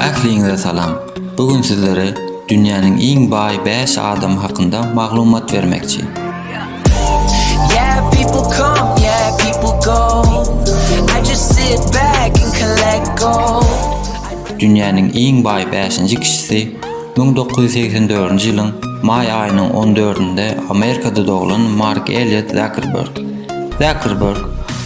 Ähliňize salam! Bu gün sizlere dünýäniň iň baý bäş adamy hakynda maglumat bermekçi. Yeah, people come, yeah, people go. I just sit back and collect gold. Dünýäniň iň baý bäşinji kişisi 1984-nji ýylyň maý aýynyň on dördünde Amerikada doglan Mark Elliot Zuckerberg. Zakerberg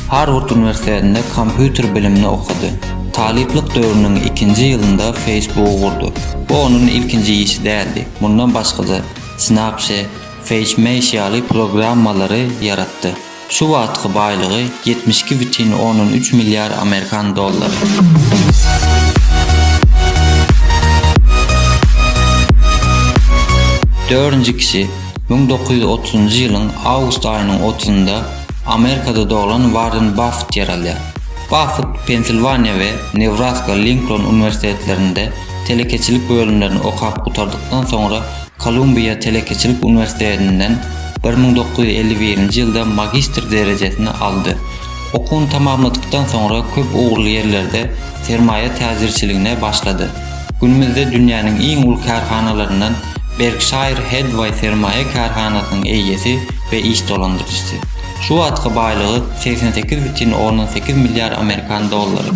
Harward uniwersitetinde kompýuter bilimini okady. Talyplyk döwrüniň ikinji ýylynda Facebook-y gurdy. Bu onuň ilkinji işi däldi, mundan başga-da, Snapchat, FaceMesh ýaly programmalary ýaratdy. Şu wagtky baýlygy ýetmiş iki bütin ondan üç milliard amerikan dollary. Dördünji kişi. Müň dokuz ýüz otuzynjy ýylyň awgust aýynyň otuzynda Amerikada doglan Warren Baffet ýer alýar. Baffet Pensilwaniýa we Nebraska Linkoln uniwersitetlerinde telekeçilik bölümlerini okap gutardykdan soňra Kolumbiýa telekeçilik uniwersitetinden bir müň dokuz ýüz elli birinji ýylda magistr derejesini aldy. Okuwyny tamamladykdan soňra köp ugurly ýerlerde sermaýa täjirçiligine başlady. Günümizde dünýäniň iň uly kärhanalaryndan Berkşaýr Hedwaý sermaýa kärhanasynyň eýesi we iş dolandyryjysy. Şu wagtky baýlygy segsen sekiz bütin ondan sekiz milliard amerikan dollary.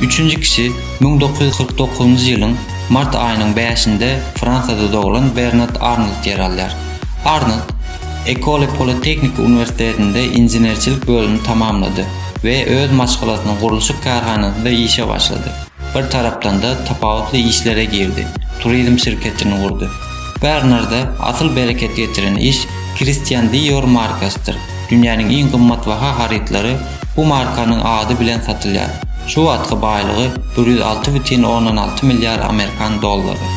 Üçünji kişi müň dokuz ýüz kyrk dokuzynjy ýylyň mart aýynyň bäşinde Fransiýada doglan Bernard Arnold ýer alýar. Arnold Ecole Polytechniki uniwersitetinde inženerçilik bölümini tamamlady. we öz maşgalasynyň gurluşyk kärhanasynda işe başlady. Bir tarapdan-da tapawutly işlere girdi, turizm şirketini gurdy. Bernarda asyl bereket getiren iş Christian Dior markasydyr, dünýäniň iň gymmatbaha harytlary bu markanyň ady bilen satylýar. Şu wagtky baýlygy bir ýüz alty bütin ondan alty milliard amerikan dollary.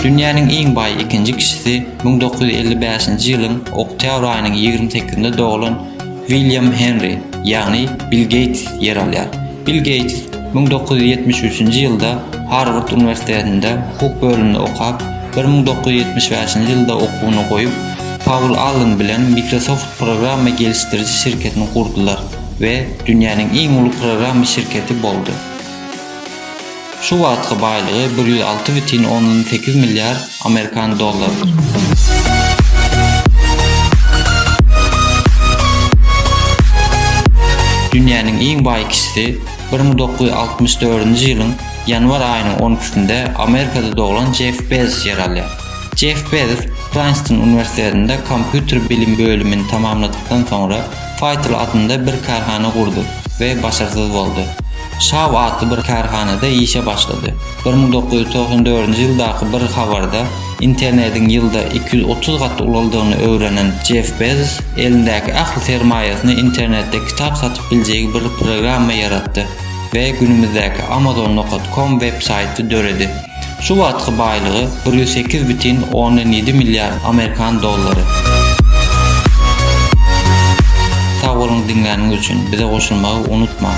Dünýäniň iň baý ikinji kişisi Müň dokuz ýüz elli bäşinji ýylyň oktýabr aýynyň ýigrimi sekizinde doglan William Henri, ýagny Bill Geýts ýer alýar. Bill Geýts müň dokuz ýüz ýetmiş üçünji ýylda Harward uniwersitetinde hukuk bölüminde okap, bir müň dokuz ýüz ýetmiş bäşinji ýylda okuwyny goýup, Paul Allen bilen Microsoft programma gelişdiriji şirketini gurdular we dünýäniň iň uly programma şirketi boldy. Şu wagtky baýlygy bir ýüz alty bütin ondan sekiz milliard amerikan dollarydyr. Dünýäniň iň baý kişisi bir müň dokuz ýüz altmyş dördünji ýylyň ýanwar aýynyň on ikisinde Amerikada doglan Jeff Bezos ýer alýar. Jeff Bezos Prynstyn uniwersitetinde kompýuter bilim bölümini tamamladykdan soňra, Faýtyl adynda bir kärhana gurdy we başarsyz boldy. Şaw atly bir kärhanada işe başlady. Bir müň dokuz ýüz togsan dördünji ýyldaky bir habarda internediň ýylda iki ýüz otuz gat ulaldygyny öwrenen Jeff Bezos elindäki ähli sermaýasyny internetde kitap satyp biljegi bir programma ýaratdy we günümizdäki Amazon. Com web saýty döredi. Şu wagtky baýlygy bir ýüz sekiz bütin ondan ýedi milliard amerikan dollary. Sag boluň diňläniňiz üçin, bize goşulmagy unutmaň!